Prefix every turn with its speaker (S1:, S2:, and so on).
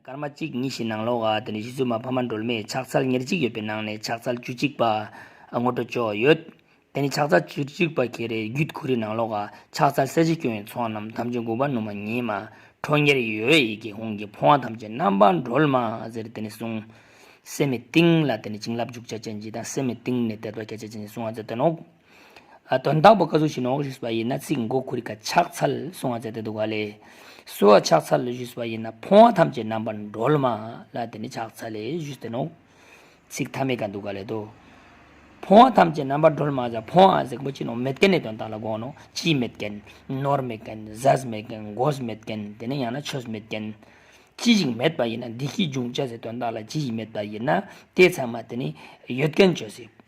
S1: སྐར་མ་གཅིག་གཉིས་བཞི་ནང་ལོགས་དེ་ནས་གཞི་རྩོལ་མ་ཕ་མ་འགྲོལ་མེད་ཕྱག་འཚལ་ཉེར་གཅིག་ཡོད་པའི་ནང་ནས་ཕྱག་འཚལ་བཅུ་གཅིག་པ། ངོ་སྤྲོད་ཅོག་ཡོད། དེ་ནས་ཕྱག་འཚལ་བཅུ་གཅིག་པ་གྱེས་རེ་རྒྱུད་གུ་རི་ནང་ལོགས་ཕྱག་འཚལ་གསལ་བྱེད་སྐྱོན་ཡོན་ཚོགས་རྣམས་ཐམས་ཅད་འགུགས་པ་ནུ་མ་ཉི་མ་ཁྲོ་གཉེར་ཡོད་ཡེ་གེ་ཧུང་གི་འཕོ་བ་ཐམས་ཅད་རྣམ་པར་འགྲོལ་མ་ཟེར་དེ་ནས་གསུང། སེམས་མི་གཏིང་ལ་དེ་ནས་བྱིན་རླབས་འཇུག་བྱ་ཅན་གྱིས་དང་སེམས་མི་གཏིང་ནས་དད་པ་བསྐྱེད་བྱ་ཅན་གྱིས་གསུང་བ་ཙེ་ཏོན་ཨོ། དོན་དག་པོ་བཀའ་ཟུར་གྱི་ནོག་ཞུས་པ་ཡིན་ན་ཚིག་མགོ་ཁུར་ཀ་ཕྱག་འཚལ་གསུང་བ་མཛད་དེ་འདུག་ག་ལས། སུ་བ་ཕྱག་འཚལ་ཞུས་པ་ཡིན་ན་ཕོང་བ་ཐམས་ཅད་རྣམ་པར་འགྲོལ་མ་ལ་དེ་ནི་ཕྱག་འཚལ་ཞུས་དེ་ནོག། ཚིག་མཐའ་མེད་ཀ་འདུག་ག་ལས་དོ། ཕོང་བ་ཐམས་ཅད་རྣམ་པར་འགྲོལ་མ་ཟ་ཕོང་བ་གཟིགས་པོ་ཅི་ནོག་མེད་རྐན་ནི་དོན་དག་ལ་དགོངས་ནོག་ཅི་མེད་རྐན། ནོར་མེད་རྐན་ཟས་མེད་རྐན་མགོས་མེད་རྐན་དེ་ནི་ཡང་ན་ཆོས་མེད་རྐན། ཅི་ཞིག་མེད་པ་ཡིན་ན་འདི་སྐད་འབྱུང་བྱ་ཟེར་དོན་དག་ལ་ཅི་ཞིག་མེད་པ་ཡིན་ན་དེ་ཚང་མ་དེ་ནི་ཡོད་རྐན་ཆོས་ཟེར།